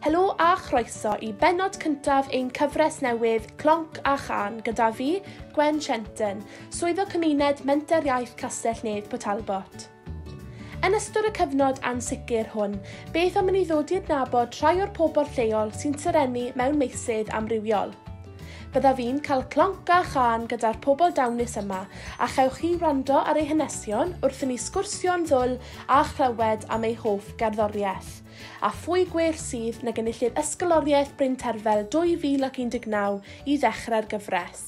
Helo a chroeso i benod cyntaf ein cyfres newydd Clonc a Chan gyda fi, Gwen Shenton, swyddog cymuned Menter Iaith Castell Nedd Port Talbot. Yn ystod y cyfnod ansicr hwn, beth am i ni ddod i adnabod rhai o'r pobl lleol sy'n serennu mewn meysydd amrywiol? Byddaf i'n cael clonc a chân gyda'r pobl dawnus yma, a chewch chi wrando ar eu hanesion wrth i ni sgwrsio'n ddwl a chlywed am eu hoff gerddoriaeth. A phwy gwell sydd nag enillydd Ysgoloriaeth Bryn Terfel 2019 i ddechrau'r gyfres?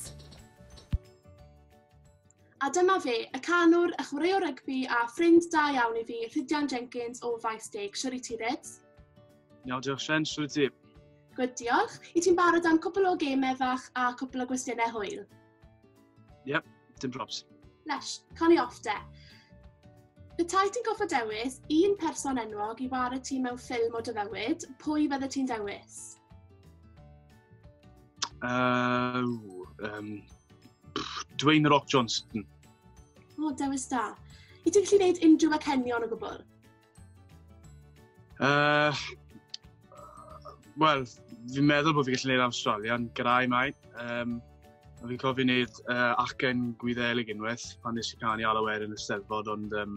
A dyma fe, y canwr, y chwaraewr rygbi a ffrind da iawn i fi, Rhyddian Jenkins o Faes Deg. Shwr i ti, Rhyds? Iawn, diolch Shen, swn i ti? Gwyd, diolch. I ti'n barod am cwpl o gemau fach a cwpl o gwestiynau hwyl? Ie, yep, dim probs. Lesh, cawn ni off de. Petai ti'n goffa dewis un person enwog i wario ti mewn ffilm o dyfywyd, pwy fydde ti'n dewis? Uh, um, Dwayne Rock Johnson. O, oh, dewis da. I ti'n gallu gwneud unrhyw acenion o gwbl? Uh, Wel, fi'n meddwl bod fi gallu gwneud Awstralian gyda'i mai. Um, fi'n cofio gwneud uh, acen gwyddelig unwaith pan nes i canu ar awyr yn y steddfod, ond um,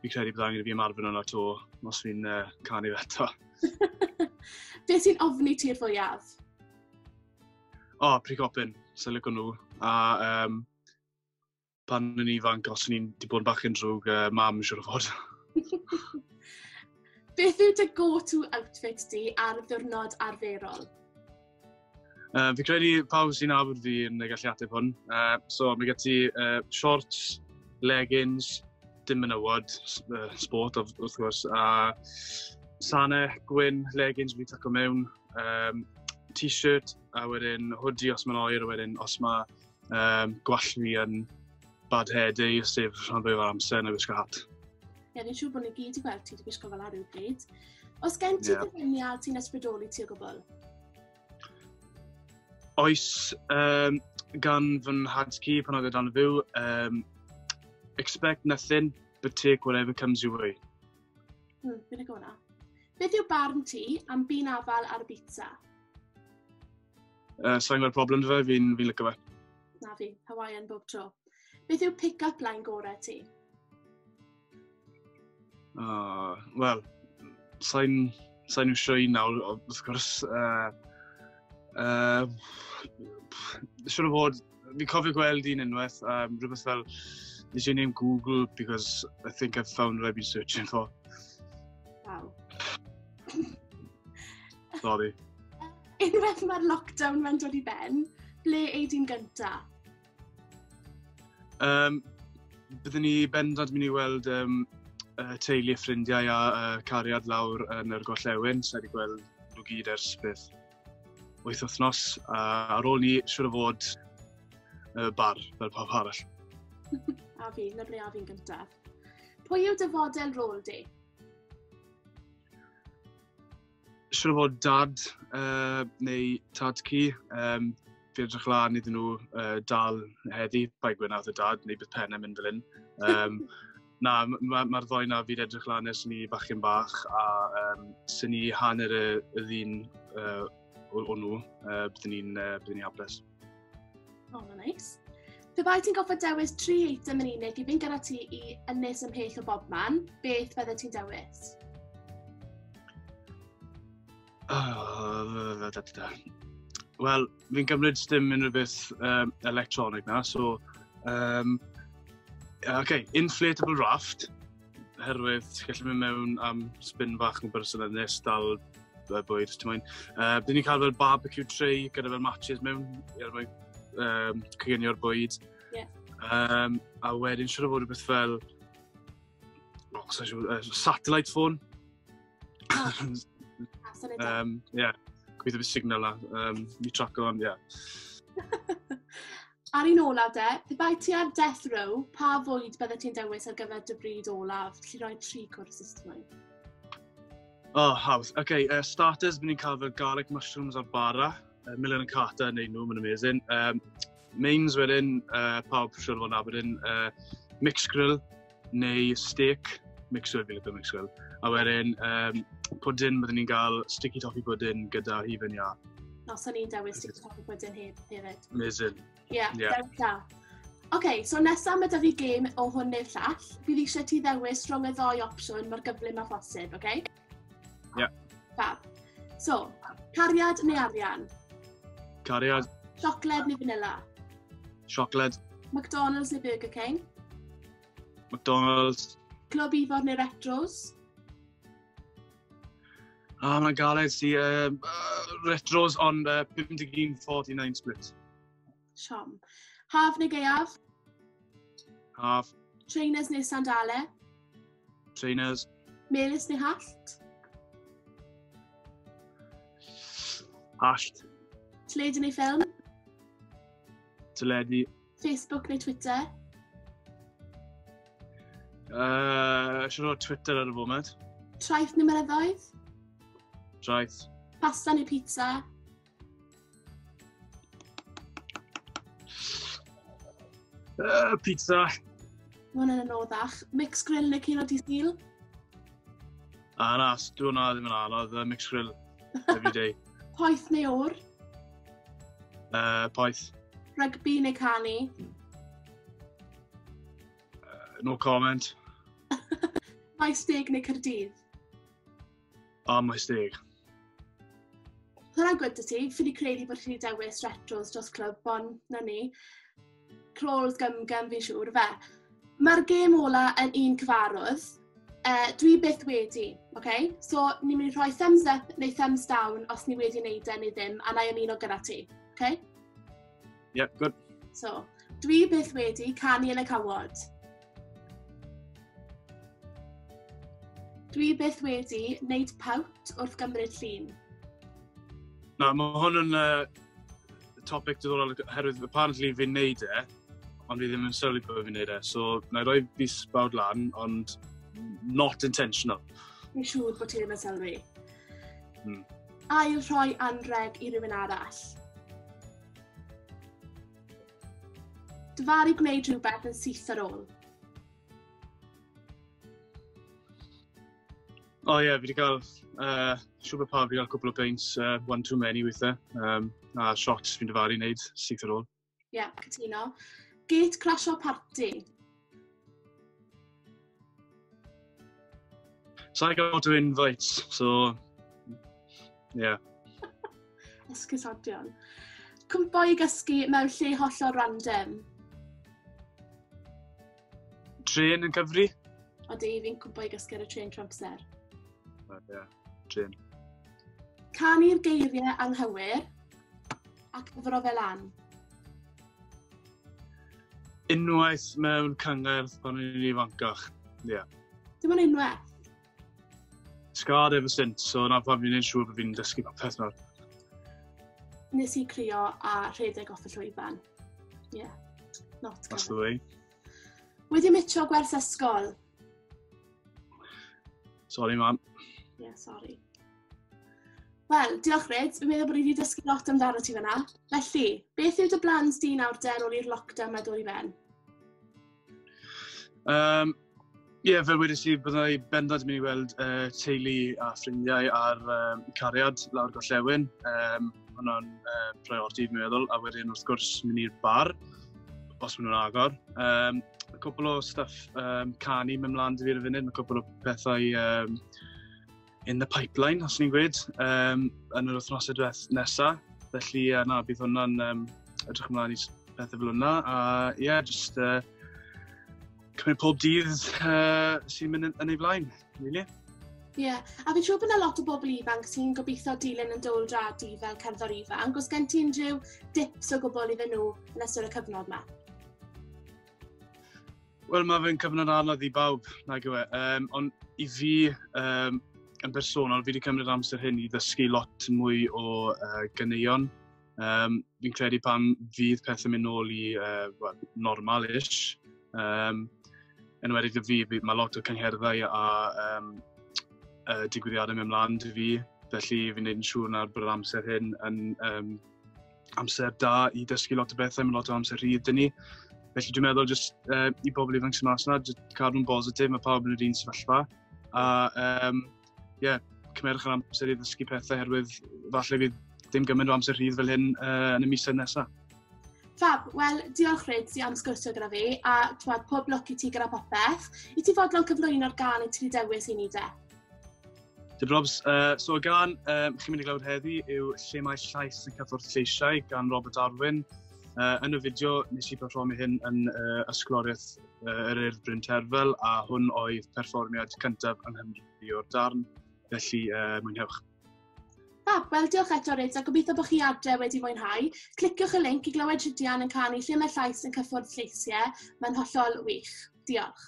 fi'n credu bod angen i fi ymarfer yna to os fi'n uh, canu fe eto. Be sy'n ofni ti'r fwyaf? O, oh, prigopyn, sy'n lygo nhw. A um, pan o'n i'n ifanc, os o'n i'n di bod yn bach yn drwg, uh, mam yn siwr o fod. Beth yw dy go-to outfit di ar ddiwrnod arferol? Uh, fi credu pawb sy'n abod fi yn y galliateb hwn. Uh, so, mae gen ti uh, shorts, leggings, dim yn ywod, uh, sport of, wrth gwrs, a sane, gwyn, leggings fi taco mewn, um, t-shirt, a wedyn hoodie os mae'n oer, a wedyn os mae Um, gwall fi yn bad hair day, sef rhan fwy o'r amser yn y wisgo hat. Ie, yeah, ni'n siŵr bod ni gyd i gweld ti wedi gwisgo fel ar bryd. Os gen ti yeah. dyfyniad sy'n ysbrydoli ti o gwbl? Oes, um, gan fy nhadgi pan oedd e dan fyw, um, expect nothing, but take whatever comes your way. Hmm, fi'n agona. Beth yw barn ti am byn afal ar y bita? Uh, Sa'n gweld problem dy fe, fi'n fi lygo fe. Na fi, Hawaiian bob tro. Beth yw pick-up line gorau ti? Uh, Wel, sa'n sa nhw sioi nawr, wrth gwrs. Uh, uh, Siwr o fod, fi cofio gweld un unwaith, um, rhywbeth fel, is your name Google because I think I've found what I've been searching for. Wow. Sorry. Unwaith mae'r lockdown mae'n dod i ben, ble ei di'n gynta? Um, byddwn ni bendant mynd i weld um, uh, teulu, ffrindiau a uh, cariad lawr yn yr Gollewin. Sa'n wedi gweld nhw gyd ers beth wyth wythnos. A ar ôl ni, siwr o fod, uh, bar fel pawb arall. a fi, na ble a fi'n gyntaf. Pwy yw dy fodel rôl di? Siwr fod dad uh, neu tad ci, um, fi edrych lan iddyn nhw uh, dal heddi, bai gwynaeth y dad, neu bydd pennau mynd fel hyn. Um, na, mae'r ma, ma ddoi na fi'n edrych lan ers ni bachyn bach, a um, sy'n ni hanner y, y ddyn uh, o, o nhw, uh, byddwn ni'n uh, ni hapus. Oh, nice. Pe bai ti'n goffa dewis tri eitem yn unig i fynd gyda ti i ynnes ymhell o bob man, beth bydde ti'n dewis? Oh, Wel, fi'n gymryd dim unrhyw beth um, electronig na, so... Um, OK, inflatable raft. herwydd ti'n gallu mynd mewn am spin fach yn berson yn nes dal y bwyd, ti'n mwyn. Uh, Dyn ni'n cael fel barbecue tray gyda fel matches mewn, er mwyn um, cygenio'r bwyd. Yeah. Um, a wedyn siwr o fod rhywbeth fel oh, uh, satellite phone. Oh. um, yeah, gweithio fi signal na. Um, mi traco o'n, yeah. Ar un olaf de, pe bai ti ar death row, pa fwyd bydde ti'n dewis ar gyfer dy bryd olaf? Lli roi tri cwrs system. Oh, hawdd. Oce, okay, uh, starters, byddwn ni'n cael fel garlic mushrooms ar bara. Uh, Milan yn Carter yn neud nhw, mae'n amazing. Um, mains wedyn, uh, pawb siwr fod nabod yn uh, mixed grill, neu steak, mixed grill, mixed grill. A wedyn, um, pwdyn, byddwn ni'n cael sticky toffee pwdyn gyda hufen ia. No, so ni'n dewis sticky toffee pwdyn hyd hefyd. Amazing. Ie, yeah, yeah. dewis da. Oce, okay, so nesaf mae da fi gêm o hwn neu'r llall. Bydd eisiau ti ddewis rhwng y ddoi opsiwn mae'r gyflym a phosib, oce? Okay? Ie. Yeah. Fab. So, cariad neu arian? Cariad. Siocled neu vanilla? Siocled. McDonald's neu Burger King? McDonald's. Clwb Ifor neu Retros? Ah, mae'n galed si. Uh, retros on uh, 51-49 split. Siom. Haf neu gaeaf? Haf. Trainers neu sandale? Trainers. Melus neu hallt? Hallt. Teledu neu ffilm? Teledu. Facebook neu Twitter? Uh, siwr o Twitter ar y foment. Traeth neu myrddoedd? Traeth. Pasta neu pizza? Uh, pizza. Mae hwnna'n anoddach. Mix grill neu cino di stil? A na, dwi hwnna ddim yn anodd. Uh, mix grill, every day. Poeth neu o'r? Uh, poeth. Rygbi neu canu? Uh, no comment. Mae steg neu cyrdydd? Oh, my steg. Hwna'n gwybod ti, ffili credu bod chi wedi dewis retros dros clwb, bon na ni. Crawls gym gym fi'n siŵr fe. Mae'r gêm ola yn un cyfarwydd. Uh, dwi byth wedi, oce? Okay? So, ni'n mynd i rhoi thumbs up neu thumbs down os ni wedi wneud e neu ddim, a na i ymuno gyda ti, oce? Okay? Yeah, good. So, dwi byth wedi canu yn y cawod. Dwi byth wedi wneud pawt wrth gymryd llun. Na, mae hwn yn uh, topic diddorol oherwydd apparently fi'n neud e, ond fi ddim yn sylwi bod fi'n neud e. So, na i roi fi sbawd lan, ond not intentional. Fi'n siŵr bod ti ddim yn sylwi. Hmm. Ail rhoi anreg i rhywun arall. Dyfaru gwneud rhywbeth yn syth ar ôl. O oh, ie, yeah, fi wedi cael uh, siwr bod pawb wedi cael cwbl o beint uh, one too many weithiau. Um, a shots fi'n dyfaru wneud syth ar ôl. Ie, yeah, cytuno. Gate crash o party. So I got to invite, so... Yeah. Esgusodion. Cwmpo i gysgu mewn lle hollol random. Tren yn cyfri? Odi, fi'n cwmpo i gysgu ar y tren trwy amser. Right, yeah. Trin. Canu'r geiriau anghywir a cyfro fel an. Unwaith mewn cyngerdd pan o'n i'n ifancach. Ie. Yeah. Dim ond unwaith? Scarred ever since, so na pan fi'n ein siŵr bod fi'n dysgu popeth nawr. Nes i crio a rhedeg off y llwyfan. Ie. Yeah. Not That's the way. Wedi mitio gwers ysgol. Sorry, mam. Ie, yeah, sorry. Wel, diolch Ryd, fi'n meddwl bod ni wedi dysgu lot amdano ti fyna. Felly, beth yw dy blan di nawr den ôl i'r lockdown mae dod i ben? Um, Ie, yeah, fel wedi si, byddai bendant yn mynd i weld uh, teulu a ffrindiau ar um, cariad lawr gollewin. Um, hwnna'n uh, priority, fi'n meddwl. A wedyn, wrth gwrs, mynd i'r bar, os maen nhw'n agor. Um, a cwbl o stuff um, canu mewn mlaen dy fi ar y funud, mae cwbl o pethau um, in the pipeline, os ni'n gweud, um, yn yr wythnosau diweth nesaf. Felly, uh, na, bydd hwnna'n um, edrych ymlaen i pethau fel hwnna. A ie, yeah, just uh, cymryd pob dydd uh, sy'n mynd yn, yn ei flaen, really. Ie, yeah. a fi'n siŵr bod yna lot o bobl ifanc sy'n gobeithio dilyn yn dywl dradu fel cerddor ifanc. Os gen ti unrhyw dips o gwbl iddyn nhw yn ystod y cyfnod yma? Wel, mae fe'n cyfnod anodd i bawb, nag yw e. Um, ond i fi, um, yn bersonol, fi wedi cymryd amser hyn i ddysgu lot mwy o uh, gyneuon. Um, fi'n credu pan fydd pethau mynd nôl i uh, well, normal-ish, um, yn wedi dy fi, mae lot o cyngherddau a um, uh, digwyddiadau mewn mlaen dy fi, felly fi'n neud yn siŵr na'r bod yr amser hyn yn um, amser da i dysgu lot o bethau, mae lot o amser rhydd dyn ni. Felly dwi'n meddwl jyst uh, i bobl ifanc sy'n mas yna, cadw nhw'n bositif, mae pawb yn yr un sefyllfa. A um, yeah, cymerwch yr amser i ddysgu pethau herwydd falle fydd dim gymaint o amser rhydd fel hyn uh, yn y misoedd nesaf. Fab, wel, diolch Ryd ti am sgwrsio gyda fi, a twad, pob lwc i ti gyda popeth. I ti fodlon cyflwyno'r gan i ti wedi dewis i ni de? Dim probs. Uh, so y gan um, chi'n mynd i glawd heddi yw Lle mae llais yn cyffwrdd lleisiau gan Robert Darwin. Uh, yn y fideo nes i performi hyn yn uh, ysgoloriaeth uh, yr Urdd Bryn Terfel a hwn oedd perfformiad cyntaf yng Nghymru o'r darn, felly uh, mwynhewch. Fab, wel diolch eto Rids a gobeithio bod chi adre wedi mwynhau. Cliciwch y link i glywed Rhydian yn canu lle mae llais yn cyffwrdd lleisiau. Mae'n hollol wych. Diolch.